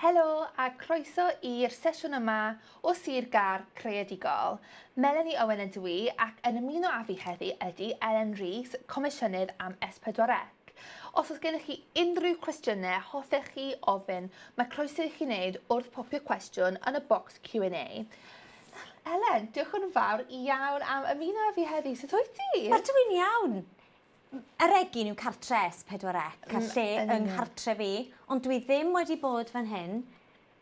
Helo a croeso i'r sesiwn yma o Sir Gar Creadigol. Melanie Owen ydw i ac yn ymuno â fi heddi ydy Elen Rees, Comisiynydd am S4C. Os oes gennych chi unrhyw cwestiynau hoffech chi ofyn, mae croeso i chi wneud wrth popio cwestiwn yn y bocs Q&A. Elen, diolch yn fawr iawn am ymuno â fi heddi, sut wyt ti? Wel dw i'n iawn. Yr egin yw cartre S4C a lle yng nghartre fi, ond dwi ddim wedi bod fan hyn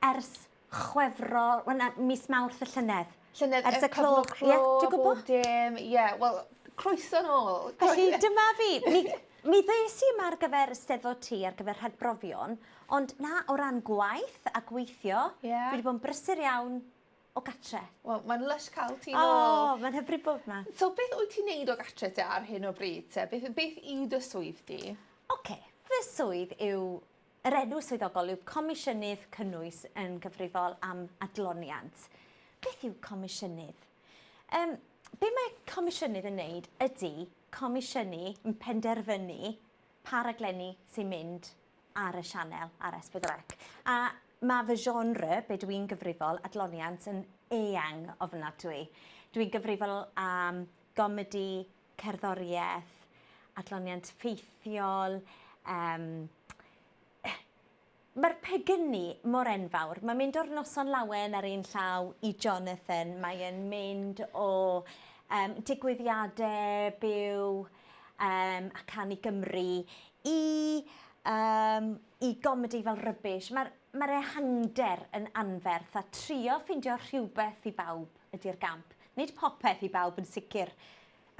ers Chwefror, wel na, mis Mawrth y llynedd. Llynedd, ers y clo, ie, dwi'n gwybod. Bob dim, ie, wel, croeso nôl. Felly, dyma fi. Mi, mi ddes i yma ar gyfer Steddfod Ti, ar gyfer rhagbrofion, ond na, o ran gwaith a gweithio, yeah. dwi wedi bod yn brysur iawn o gatre. Wel mae'n lysh ca'l ti nôl. O mae'n hyfryd bod 'ma. So beth wyt ti'n neud o gatre te ar hyn o bryd te beth beth yw dy swydd di? Oce fy swydd yw yr enw swyddogol yw Comisiynydd Cynnwys yn gyfrifol am adloniant. Beth yw comisiynydd? Yym be' mae comisiynydd yn neud ydi comisiynu yn penderfynu pa raglenni sy'n mynd ar y sianel ar S4C. A mae fy genre, be dw i'n gyfrifol, adloniant, yn eang ofnadwy. Dw i'n gyfrifol am gomedi, cerddoriaeth, adloniant ffeithiol, um, Mae'r pegynnu mor enfawr. Mae'n mynd o'r noson lawen ar un llaw i Jonathan. Mae'n mynd o um, digwyddiadau byw Yym a canu Gymru i yym i gomedi fel rubbish ma'r ma'r ehangder yn anferth a trio ffindio rhywbeth i bawb ydi'r gamp. Nid popeth i bawb yn sicr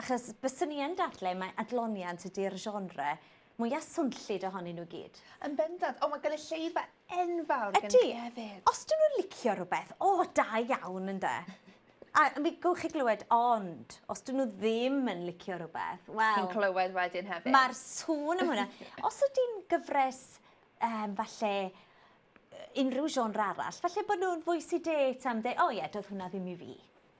achos byswn i yn dadle mae adloniant ydi'r genre Mwya swnllyd ohonyn nhw gyd. Yn bendant. O mae gynulleidfa enfawr gen chi hefyd. Ydy. Os 'dyn nhw'n licio rhywbeth, o, da iawn ynde? A mi gewch chi glywed ond os 'dyn nhw ddim yn licio rhywbeth, wel... Chi'n clywed wedyn hefyd. Mae'r sŵn am hwnna. Os ydy'n gyfres um, falle unrhyw genre arall, falle bod nhw'n fwy sedate am dweud, o ie, doedd hwnna ddim i fi.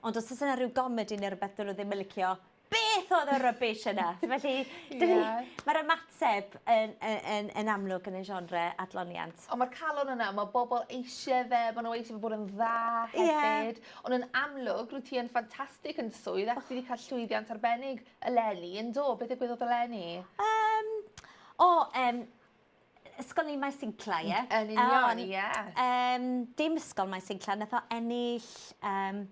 Ond os oes yna rhyw gomedi neu rhywbeth dyn nhw ddim yn licio, beth oedd y rubbish yna? Felly, dyn ni... Mae'r ymateb yn yn yn yn amlwg yn y genre adloniant. Ond mae'r calon yna, mae bobl eisiau fe, maen nhw eisiau fe bod yn dda hefyd. Ie. Ond yn amlwg, rwyt ti yn ffantastig yn dy swydd ac ti 'di cael llwyddiant arbennig eleni, yn do? Beth ddigwyddodd eleni? Yym, o, yym, Ysgol ni Maes Incla, ie? Yn union, ie. Yym, dim Ysgol Maes Incla, nath o ennill yym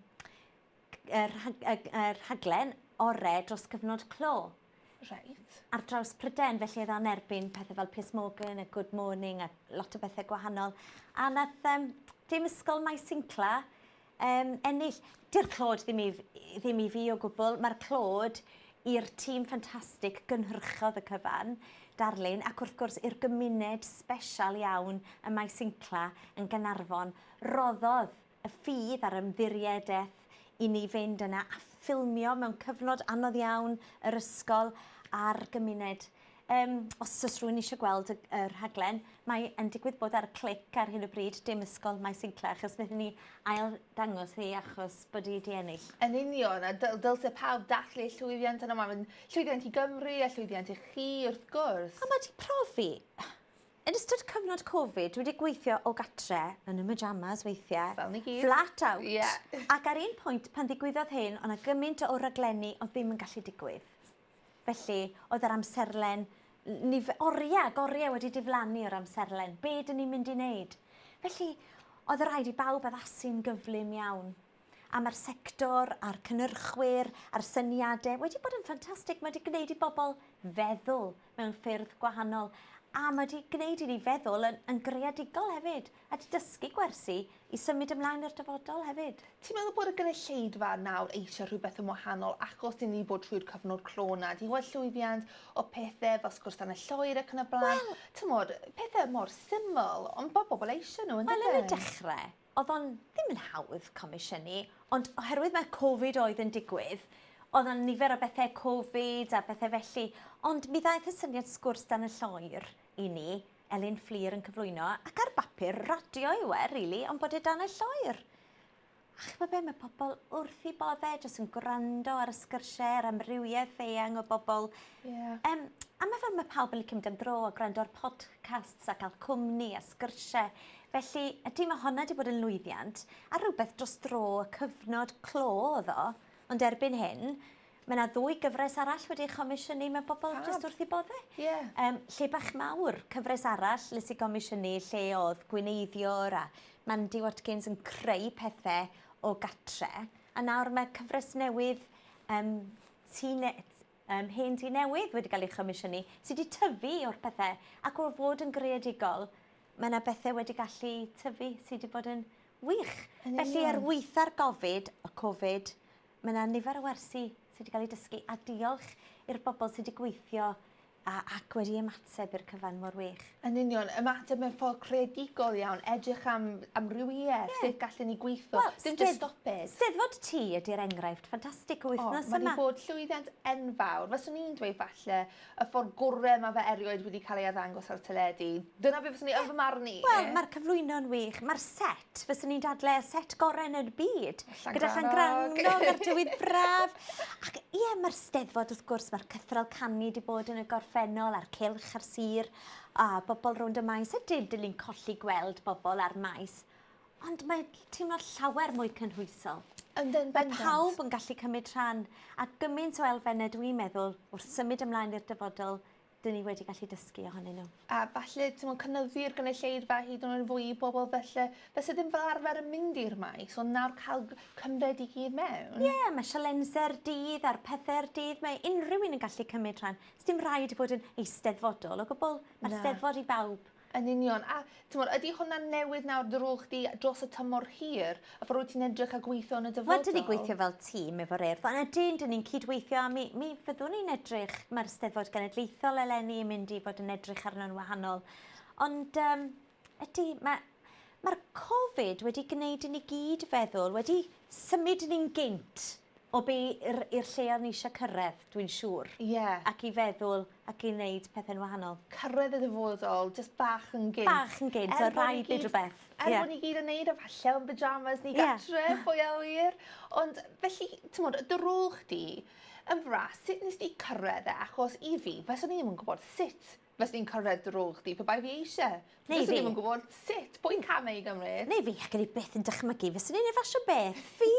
y rhaglen orau dros gyfnod clo. Reit. Ar draws Pryden, felly oedd o'n erbyn pethau fel Piers Morgan a Good Morning a lot o bethau gwahanol. A nath um, dim ysgol Maes Sincla um, ennill. Di'r clod ddim i, ddim i fi o gwbl. Mae'r clod i'r tîm ffantastig gynhyrchodd y cyfan, darlun, ac wrth gwrs i'r gymuned special iawn y mae Sincla yn Ganarfon roddodd y ffydd a'r ymddiriedaeth i ni fynd yna a ffilmio mewn cyfnod anodd iawn yr ysgol a'r gymuned. Um, os oes rhywun eisiau gweld y, y rhaglen, mae yn digwydd bod ar y clic ar hyn o bryd, dim ysgol mae Sinclair, achos wnaethon ni ail dangos hi achos bod hi wedi ennill. Yn union, a dyl, dylse pawb dathlu llwyddiant yna, mae'n llwyddiant i Gymru a llwyddiant i chi, wrth gwrs. A mae wedi profi, Yn ystod cyfnod Covid, dwi 'di gweithio o gatre, yn y myjamas weithie. Fel ni gyd. Flat out. Ie. Ac ar un pwynt, pan ddigwyddodd hyn, o' 'na gymint o raglenni o'dd ddim yn gallu digwydd. Felly, oedd yr amserlen, n- nif- orie ag orie wedi diflannu o'r amserlen. Be' 'dyn ni'n mynd i neud? Felly, oedd raid i bawb addasu'n gyflym iawn. a mae'r sector a'r cynnyrchwyr a'r syniadau wedi bod yn ffantastig. Mae wedi gwneud i bobl feddwl mewn ffyrdd gwahanol a mae wedi gwneud i ni feddwl yn, yn greadigol hefyd a wedi dysgu gwersi i symud ymlaen i'r dyfodol hefyd. Ti'n meddwl bod y gynulleidfa nawr eisiau rhywbeth yn wahanol achos i ni bod trwy'r cyfnod clo na? Ti'n gweld llwyddiant o pethau fel sgwrs dan y lloer ac yn y blaen? Wel... Ti'n gwybod, pethau mor syml, ond bod bobl eisiau nhw, yn Wel, yn y dechrau, Oedd o'n ddim yn hawdd comisiynu, ond oherwydd mae Covid oedd yn digwydd, oedd o'n nifer o bethau Covid a bethau felly, ond mi ddaeth y syniad sgwrs dan y lloer i ni, Elin Fflur yn cyflwyno, ac ar bapur radio yw e, rili, ond bod e dan y lloer. A chybod be, mae pobl wrth i bodde, jyst yn gwrando ar y sgyrsiau, yr amrywiaeth eang o bobl. Yeah. Um, a mae fel mae pawb yn licio mynd am dro a gwrando ar podcasts a cael cwmni a sgyrsiau Felly, ydy, mae honna 'di bod yn lwyddiant, a rhywbeth dros dro, y cyfnod clo oedd o, ond erbyn hyn, mae yna ddwy gyfres arall wedi ei chomisiynu, mae bobl jyst wrth eu bodde. Ie. Um, lle bach mawr, cyfres arall, les i gomisiynu, lle oedd gwineiddiwr a Mandy Watkins yn creu pethau o gatre, a nawr mae cyfres newydd um, tine, Ym mhen du newydd wedi cael ei chomisiynu, sy wedi tyfu o'r pethe, ac o fod yn greadigol, mae yna bethe wedi gallu tyfu sy wedi bod yn wych. Yn union. Felly er weitha'r gofid, y covid, mae yna nifer o wersi sy wedi cael eu dysgu, a diolch i'r bobl sy wedi gweithio a ac wedi ymateb i'r cyfan mor wych. Yn union, ymateb mewn ffordd creadigol iawn, edrych am amrywiaeth, yeah. sut gallen ni gweithio, well, dim just stop it. Steddfod ti ydy'r enghraifft ffantastig o wythnos oh, yma. Mae wedi bod llwyddiant enfawr. Fyswn i'n dweud falle y ffordd gorau mae fe erioed wedi cael ei addangos ar teledu. Dyna beth fyswn i yn fy marn i. Wel, mae'r cyflwyno'n wych, mae'r set fyswn i'n dadle y set gorau yn y byd. Gyda Llan Grannog a'r tywydd braf. Ac ie, mae'r steddfod wrth gwrs, mae'r cythral canu wedi bod yn y gorffennol a'r cilch a'r sir a bobl rownd y maes. Ydy, dyn ni'n colli gweld bobl ar maes. Ond mae teimlo llawer mwy cynhwysol. Yndyn, Mae pawb yn gallu cymryd rhan a gymaint o elfennau dwi'n meddwl wrth symud ymlaen i'r dyfodol dyn ni wedi gallu dysgu ohonyn nhw. A falle, timod, cynyddu'r gynulleidfa hyd yn oed yn fwy i bobl felly, fe sydd ddim fel arfer yn mynd i'r maes, ond nawr cael cymryd i gyd mewn. Ie, yeah, mae sialensau'r dydd a'r pethau'r dydd, mae unrhyw un yn gallu cymryd rhan. Sdim rhaid bod yn eisteddfodol o gwbl, mae'r steddfod i bawb. Yn union. A, timod, ydy hwnna'n newid nawr dy rôl chdi dros y tymor hir? Y ffordd wyt ti'n edrych a gweithio yn y dyfodol? Wel, dyn ni gweithio fel tîm efo'r Urdd. Ond ydyn, dyn ni'n cydweithio a mi, mi fyddwn ni'n edrych, mae'r Eisteddfod Genedlaethol eleni yn mynd i fod yn edrych arno'n wahanol. Ond um, ydy, mae, mae'r Covid wedi gwneud i ni gyd feddwl, wedi symud ni'n gynt O be i'r i'r lle o'n ni isio cyrredd, dwi'n siŵr. Ie. Ac i feddwl ac i neud pethe'n wahanol. Cyrredd y dyfodol, jyst bach yn gynt. Bach yn gynt, o' raid neud rwbeth. Ie. Er bo' ni gyd yn neud e falle yn pyjamas neu gartre. Ie. Pwy a ŵyr? Ond felly, t'mod, dy rôl chdi yn fras, sut nest ti cyrredd e? Achos i fi, faswn i ddim yn gwbod sut Fyswn i'n cyrraedd dy rôl chdi pe bai fi eisiau. Neu fi. Fyswn i'm yn gwybod sut, pwy'n camau i gymryd. Neu fi, ac yn ei byth yn dychmygu fyswn i'n ei fasio beth. Fi,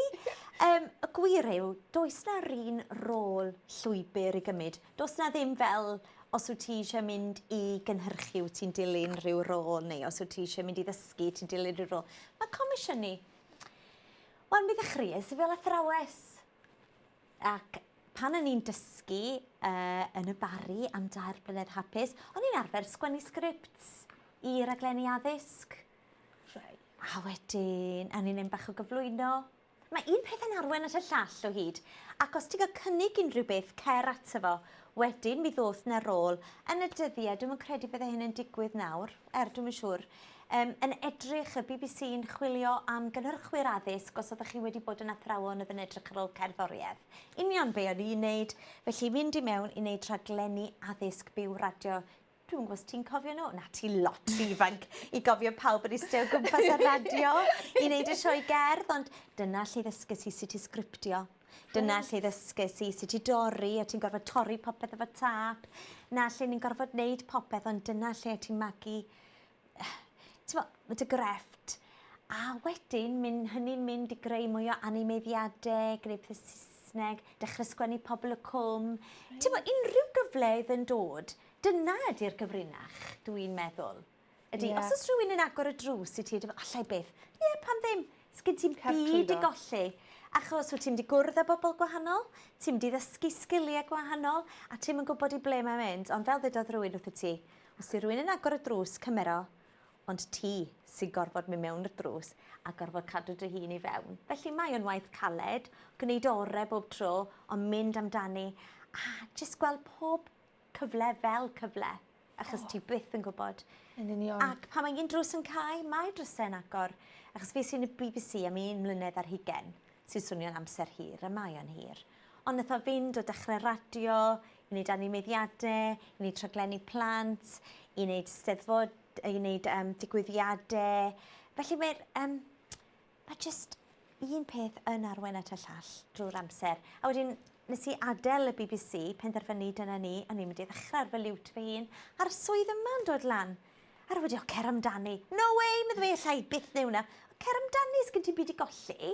um, y gwir yw, does na run rôl llwybr i gymryd. Does na ddim fel, os wyt ti eisiau mynd i gynhyrchu, wyt ti'n dilyn rhyw rôl, neu os wyt ti eisiau mynd i ddysgu, ti'n dilyn rhyw rôl. Mae comisiynu... Wel, mi ddechreuais i fel athrawes. Ac pan o'n i'n dysgu uh, yn y Barri am dair blynedd hapus, o'n i'n arfer sgwennu sgripts i raglenni addysg. Right. A wedyn, a ni'n un bach o gyflwyno. Mae un peth yn arwen at y llall o hyd, ac os ti'n cael cynnig unrhyw beth, cer ato fo. Wedyn, mi ddoth na rôl. Yn y dyddiau, dwi'n credu bydde hyn yn digwydd nawr, er dwi'n siŵr. Yym, yn edrych, y bbc yn chwilio am gynhyrchwyr addysg os oeddech chi wedi bod yn athrawon oedd yn edrych ar ôl cerddoriaeth. Union be o'n i'n neud, felly mynd i mewn i neud rhaglenni addysg byw radio Dwi'm yn gwybod os ti'n cofio nhw? Na, ti lot rhy ifanc i gofio pawb yn iste o gwmpas ar radio i neud y sioe gerdd, ond dyna lle ddysges i sut i sgriptio. Dyna lle ddysges i sut i dorri, o' ti'n gorfod torri popeth efo tâp. 'Na lle ni'n gorfod neud popeth, ond dyna lle o' ti'n magu ti'n bod, mae dy grefft. A wedyn, mynd, hynny'n mynd i greu mwy o animeiddiadau, greu pethau Saesneg, dechrau sgwennu pobl y cwm. Ti'n bod, unrhyw gyfle oedd yn dod, dyna ydy'r gyfrinach, dwi'n meddwl. Ydy, yeah. os oes rhywun yn agor y drws i ti, allai byth, ie, yeah, pan ddim, sgyn ti'n byd i golli. Achos wyt ti'n di gwrdd â bobl gwahanol, ti'n di ddysgu sgiliau gwahanol, a ti'n yn gwybod i ble mae'n mynd. Ond fel ddedodd rhywun wrth y ti, Os yw rhywun yn agor y drws, cymer o, ond ti sy'n gorfod mynd mewn i'r drws a gorfod cadw dy hun i fewn. Felly mae o'n waith caled, gwneud orau bob tro, ond mynd amdani a jyst gweld pob cyfle fel cyfle, achos oh. ti byth yn gwybod. Yn union. Ac pan mae un drws yn cael, mae drysau yn agor. Achos fi sy'n y BBC am un mlynedd ar hugen, sy'n swnio'n amser hir, a mae o'n hir. Ond nath o fynd o dechre radio, i neud animeiddiade, i neud rhaglenni plant, i neud steddfod, i neud um, digwyddiade. Felly mae'r... Um, mae just un peth yn arwen at y llall drwy'r amser. A wedyn nes i adael y BBC, penderfynu dyna ni, o'n i'n mynd i ddechrau ar fy liwt fy hun, a'r swydd yma'n dod lan. A'r wedi, o, cer amdani. No way, meddwl fi, allai byth neu hwnna. O, cer amdani, sgyn ti byd i golli.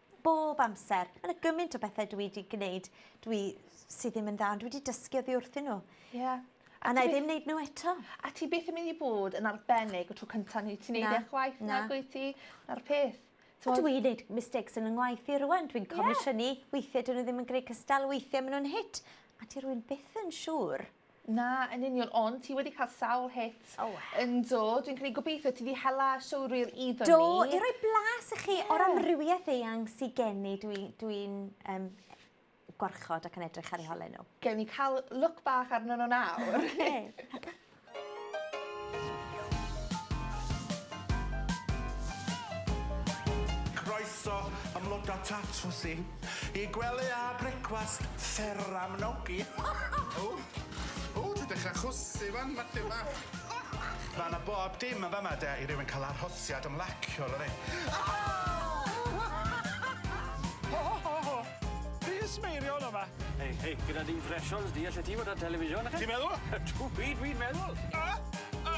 bob amser. Ma' 'na gymint o bethe dwi 'di gneud dwi sy ddim yn dda ond dwi 'di dysgu oddi wrthyn n'w. Ie. A 'nai ddim neud n'w eto. A ti byth yn myn' i bod yn arbennig y tro cynta neu ti neud e chwaith nag wyt ti? 'Na'r peth. T'mod? Dw i'n neud mistakes yn 'y ngwaith i rŵan dwi'n comisiynu weithie 'dyn n'w ddim yn gneu' cystal weithie ma' nw'n hit a 'di rywun byth yn siŵr. Na, yn union, ond ti wedi cael sawl hit. O! Yndw, dwi'n credu gobeithio ti di hela siwrwyr i fyny. Do, i roi blas i chi yeah. o'r amrywiaeth eang sydd gen i, dwi'n dwi, um, gwarchod ac yn edrych ar eu holau nhw. Gewn ni cael look bach arno nhw nawr. Okay. Croeso ymloda tatws i. Y gwely a brecwast fer am nogi. O! O! Dwi'n dechra chwysu wan, Mathew bach. Ma' 'na bob dim yn fama de i rywun ca'l arhosiad ymlaciol yfe? Ho ho ho ho! Plis smeirio yn fama. Hei hei, gyda dy impressions di, allet ti fod ar television yfe? Ti'n meddwl? Ydw, wir, wir meddwl. A! A!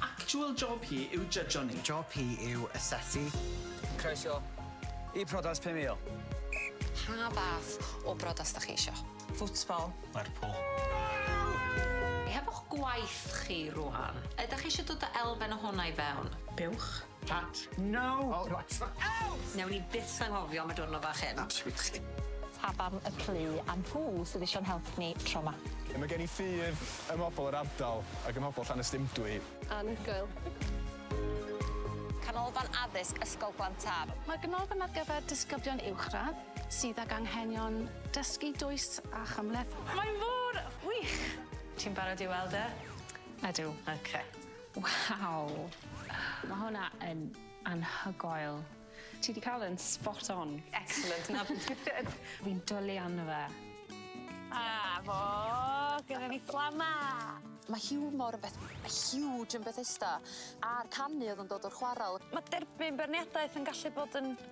Actual job hi yw jydjo ni. Job hi yw asesu. Croeso i Priodas 5000. Pa fath o briodas da chi isio? Football. Lerpwl. Hefo'ch gwaith chi rwan, ydach chi eisiau dod â elfen o hwnna i fewn? Buwch. Pat. No! O reit. Out! Newn ni byth anghofio am y diwrnod fach hyn. Absolutely. Pabam y plu a nhw sydd isio'n help ni tro 'ma. Mae gen i ffydd ym mhobl yr ardal ac ym mhobl Llanystumdwy. Anhygoel. Canolfan Addysg Ysgol Glantaf. Mae'r ganolfan ar gyfer disgyblion uwchradd sydd ag anghenion dysgu dwys a chymhleth. Mae mor wych! Ti'n barod i weld e? Ydw. Ok. Waw! Mae hwnna yn anhygoel. Ti 'di cael e'n spot on. Excellent, 'na be dwi isie. Fi'n dwli arno fe. A fo! Gyda ni Fflamau! Mae hiwmor yn beth huge yn Bethesda, a'r canu oedd yn dod o'r chwarel. Mae derbyn beirniadaeth yn gallu bod yn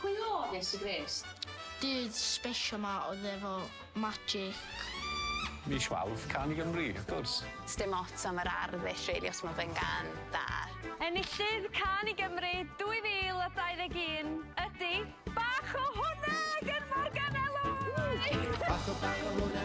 Pwy oedd Iesu Grist? Dude sbeshal ma oedd efo magic. Mis Mawrth, Can i Gymru, wrth gwrs! Sdim ots am yr arddull rili os ma fe'n gan da. Enillydd Can i Gymru 2021 ydi Bach o Hwna gan Morgan Elwy! Bach o bach o hwna.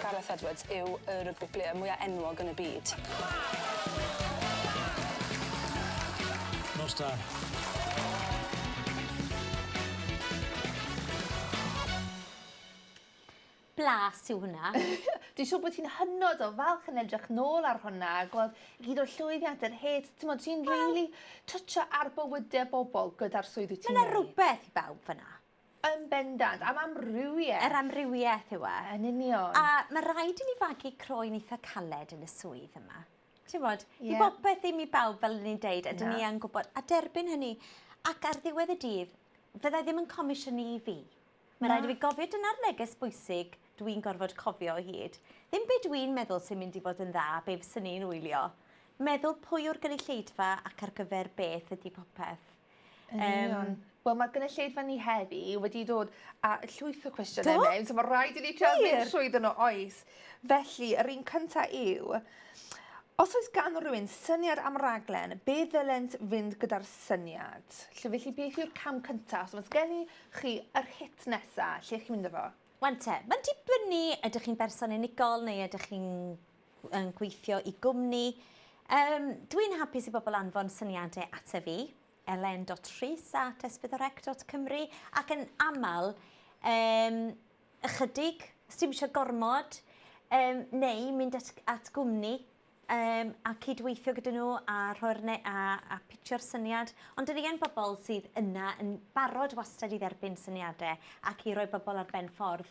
Gareth Edwards yw y rygbi player mwya' enwog yn y byd. Nos da. blas yw hwnna. Dwi'n siŵr bod ti'n hynod o falch yn edrych nôl ar hwnna, gweld gyd o'r llwyddiant, yr het, ti'n modd, ti'n really twtio ar bywydau bobl gyda'r swydd wyt ti'n Mae yna rhywbeth i bawb fyna. Yn bendant, am amrywieth. Yr amrywieth yw e. Yn union. A mae rhaid i ni fagu croen eitha caled yn y swydd yma. Ti'n bod, yeah. i bopeth ddim i bawb fel ni'n deud, a dyn ni yn gwybod, a derbyn hynny. Ac ar ddiwedd y dydd, fyddai ddim yn comisiynu i fi. Mae rhaid i fi gofio dyna'r neges bwysig dwi'n gorfod cofio o hyd. Ddim beth dwi'n meddwl sy'n mynd i fod yn dda, be fysyn ni'n wylio. Meddwl pwy o'r gynulleidfa ac ar gyfer beth ydy popeth. Yn union. Yym. Wel ma'r gynulleidfa ni heddi wedi dod a llwyth o cwestiyne Do! mewn so ma' raid i ni trio mynd... Wir? ...trwyddo nw oes. Felly yr un cynta yw os oes gan rywun syniad am raglen be' ddylent fynd gyda'r syniad? 'Lly felly beth yw'r cam cynta os o's gen i chi yr hit nesa lle chi'n mynd â fo? Wan te, ma'n dibynnu ydych chi'n berson unigol neu ydych chi'n yn gweithio i gwmni. Um, Dwi'n hapus i bobl anfon syniadau at fi, elen.rhys at esbydorec.cymru, ac yn aml, um, ychydig, os ti'n eisiau gormod, um, neu mynd at, at gwmni um, a cydweithio gyda nhw a, rhoi'r ne a, a pitio'r syniad. Ond dyn ni yn bobl sydd yna yn barod wastad i dderbyn syniadau ac i roi bobl ar ben ffordd.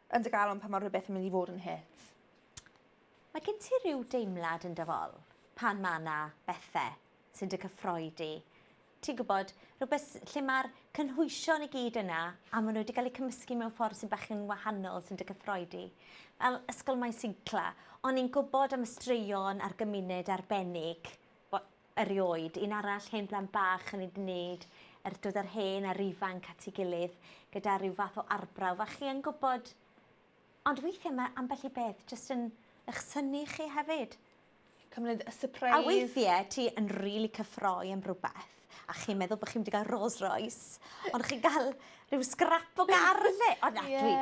yn dy galon pan mae rhywbeth yn mynd i fod yn hit? Mae gen ti rhyw deimlad yn dy fol pan mae yna bethe sy'n dy cyffroi di? Ti'n gwybod, rhywbeth lle mae'r cynhwysion i gyd yna a maen nhw wedi cael eu cymysgu mewn ffordd sy'n bach yn wahanol sy'n dy cyffroi di. Fel Ysgol Maes Incla, o'n i'n gwybod am y straeon a'r gymuned arbennig Erioed. Un arall, hen blant bach yn wneud yr dod yr hen a'r ifanc at ei gilydd gyda rhyw fath o arbrawf a chi yn gwybod. Ond weithiau mae ambell i beth jyst yn ych synnu chi hefyd. Cyfnod y sypreis. A weithiau ti yn rili cyffroi am rywbeth a chi'n meddwl bod chi'n mynd i gael Rolls Royce ond chi'n cael rhyw sgrap o gar yn lle. O na, dwi...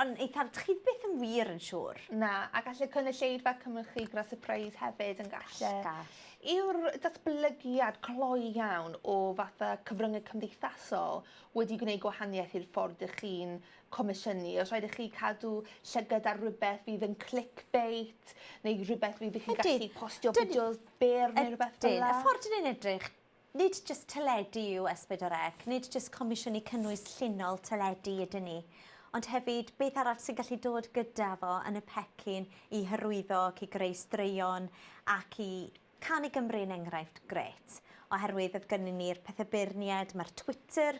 Ond eithaf, chi byth yn wir yn siŵr. Na, a galle cynulleidfa cymryd chi gyda sypreis hefyd yn galle. Gall, gall. Yw'r datblygiad cloi iawn o fatha cyfryngau cymdeithasol wedi gwneud gwahaniaeth i'r ffordd dych chi'n comisiynu? Oes rhaid i chi cadw llygad ar rywbeth fydd yn clickbait neu rhywbeth fydd chi'n gallu postio fideos byr neu rhywbeth fel 'na? Ydyn, ydyn. Y ffordd 'dyn ni'n edrych Nid jyst teledu yw S4C, nid jyst comisiynu cynnwys llinol teledu ydyn ni, ond hefyd beth arall sy'n gallu dod gyda fo yn y pecyn i hyrwyddo ac i greu straeon ac i Can i Gymru yn enghraifft grêt, oherwydd oedd gynnyn ni'r pethe beirnied, mae'r Twitter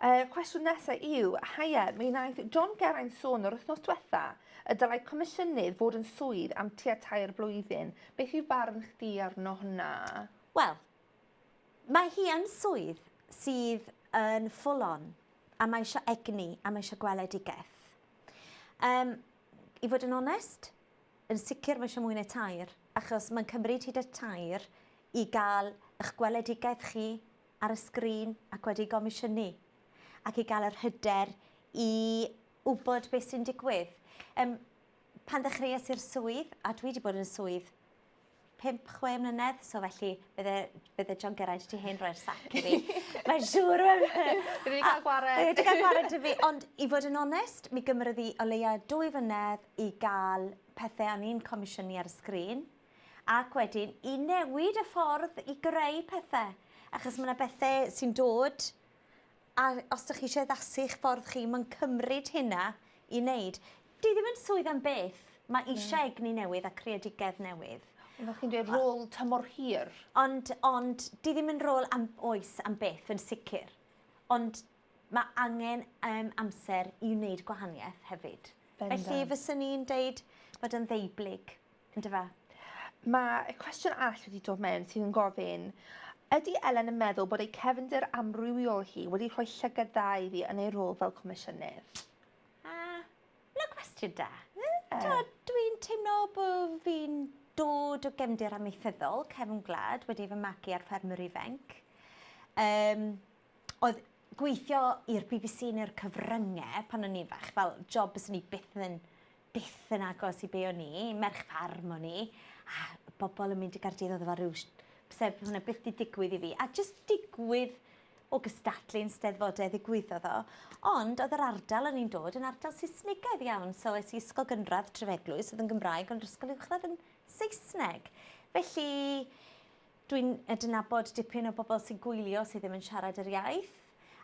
Uh, cwestiwn nesaf yw, haia, mi wnaeth John Geraint sôn yr wythnos diwetha y dylai comisiynydd fod yn swydd am tua tair blwyddyn. Beth yw barn chdi arno hwnna? Wel, mae hi yn swydd sydd yn full on, a mae eisiau egni, a mae eisiau gweledigaeth. Um, I fod yn onest, yn sicr mae eisiau mwy na tair, achos mae'n cymryd hyd y tair i gael eich gweledigaeth chi ar y sgrin ac wedi gomisiynu, ac i gael yr hyder i wybod beth sy'n digwydd. Um, pan ddechreuais i'r swydd, a dwi wedi bod yn y swydd 5-6 mlynedd, so felly bydde, bydde John Geraint ti hen roi'r sac i fi. Mae'n siŵr. Bydde wedi cael gwared. Bydde wedi cael gwared i fi, ond i fod yn onest, mi gymryd i o leia dwy flynedd i gael pethau o'n i'n comisiynu ar y sgrin. ac wedyn i newid y ffordd i greu pethe, achos ma' 'na bethe sy'n dod a os 'dych chi isie addasu'ch ffordd chi ma'n cymryd hynna i neud. 'Di ddim yn swydd am byth, ma' isie egni newydd a creadigedd newydd. Ond fel chi'n dweud rôl tymor hir. Ond ond 'di ddim yn rôl am oes am byth yn sicir ond ma' angen yym amser i wneud gwahanieth hefyd. Felly fyswn i'n deud bod yn ddeublyg. On'd yfe? Mae y cwestiwn arall wedi dod mewn sydd yn gofyn, ydy Elen yn meddwl bod ei cefndir amrywiol hi wedi rhoi llygad dda iddi yn ei rôl fel comisiynydd? A, na cwestiwn da. Yeah. Dwi'n teimlo bod fi'n dod o gefndir amaethyddol, cefn gwlad, wedi fy magu ar ffermwr ifanc. Um, oedd gweithio i'r BBC neu'r cyfryngau pan o'n i'n fach, fel job bys ni byth yn byth yn agos i be o'n i, merch ffarm o'n i, a bobl yn mynd i Gardydd oedd efo rhyw sef hwnna byth di digwydd i fi. A jyst digwydd o gystadlu yn steddfodau ddigwyddodd o. Ond oedd yr ardal o'n i'n dod yn ardal Saesnigaidd iawn, so es i ysgol gynradd Trefeglwys oedd yn Gymraeg ond yr ysgol uwchradd yn Saesneg. Felly Dwi'n adnabod dipyn o bobl sy'n gwylio sydd ddim yn siarad yr iaith,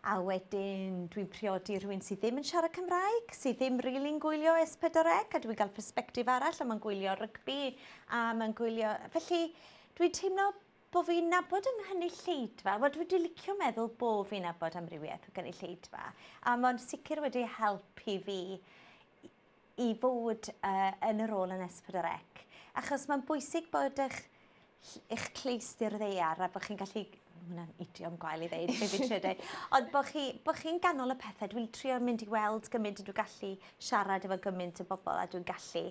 a wedyn dwi'n priodi rhywun sydd ddim yn siarad Cymraeg, sydd ddim rili'n gwylio S4C, a dwi'n cael persbectif arall, a mae'n gwylio rygbi, a mae'n gwylio... Felly, dwi'n teimlo bod fi'n nabod yng nghynulleidfa, wel dwi wedi licio meddwl bod fi'n nabod amrywiaeth o gynulleidfa, a mae'n sicr wedi helpu fi i fod uh, yn y rôl yn S4C. Achos mae'n bwysig bod eich, eich cleistyr ddeiar a bod chi'n gallu... Hwna'n idiom gwael i ddeud, fe fi trio dweud. Ond bod chi'n chi, chi ganol y pethau, dwi'n trio mynd i weld gymaint ydw gallu siarad efo gymaint o bobl a dwi'n gallu.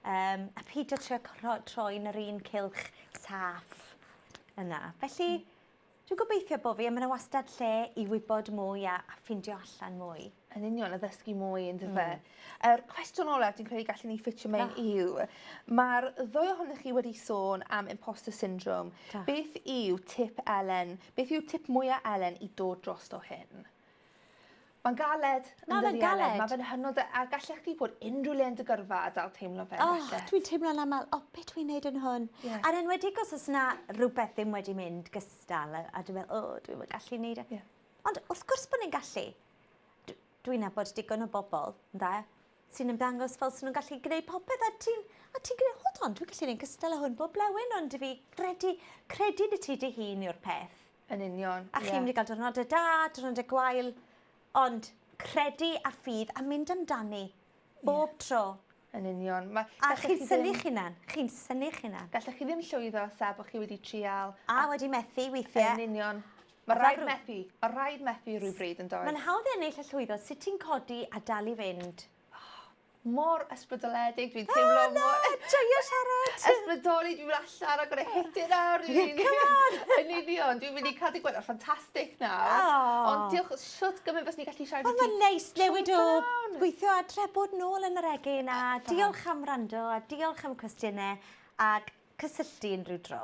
Um, a peidio trio troi'n yr un cilch saff yna. Felly, Dwi'n gobeithio bo fi a ma' 'na wastad lle i wybod mwy a a ffindio allan mwy. Yn union, a ddysgu mwy on'd yfe? Yr cwestiwn olaf dwi'n credu gallen ni ffitio mewn yw ma'r ddwy ohonoch chi wedi sôn am imposter syndrome. Do. Beth yw tip Elen beth yw tip mwya Elen i dod drosto hyn? Mae'n galed. Mae fe'n galed. Mae fe'n hynod a gallech chi bod unrhyw le yn dy gyrfa a dal teimlo fe. Oh, dwi'n teimlo'n aml, o, oh, beth dwi'n neud yn hwn? Yeah. A'n enwedig os oes na rhywbeth ddim wedi mynd gystal a, a dwi'n meddwl, o, oh, dwi'n gallu neud e. Yeah. Ond wrth gwrs bod ni'n gallu. Dwi'n nabod digon o bobl, ynddo, sy'n ymddangos fel sy'n nhw'n gallu gwneud popeth a ti'n a ti'n gwneud, hold on, dwi'n gallu gwneud cystal o hwn bob blewyn ond fi credu, credu ni ti dy hun yw'r peth. Yn union, ie. A chi'n mynd i gael diwrnodau da, diwrnodau gwael, ond credu a ffydd a mynd amdani bob yeah. tro. Yn union. Ma, a chi'n syni chi hunan. Chi'n syni chi hunan. Gallech chi ddim llwyddo sa bod chi wedi trial. A, a wedi methu weithiau. Yn union. Mae rhaid methu. Mae rhaid methu rhywbryd yn dod. Mae'n hawdd ennill y llwyddo. Sut ti'n codi a dal i fynd? mor ysbrydoledig, dwi'n teimlo mor... O na, joio siarad! Ysbrydoli, dwi'n mynd allan, I'm gonna hit it now, rili. Come on! Yn union, dwi'n mynd i cael dy gwella, ffantastig na. Ond diolch, shwt gymaint fes ni'n gallu siarad i ti? O, mae'n neis newid o gweithio adre bod nôl yn yr egin, a diolch am rando, a diolch am cwestiynau, a cysylltu unrhyw dro.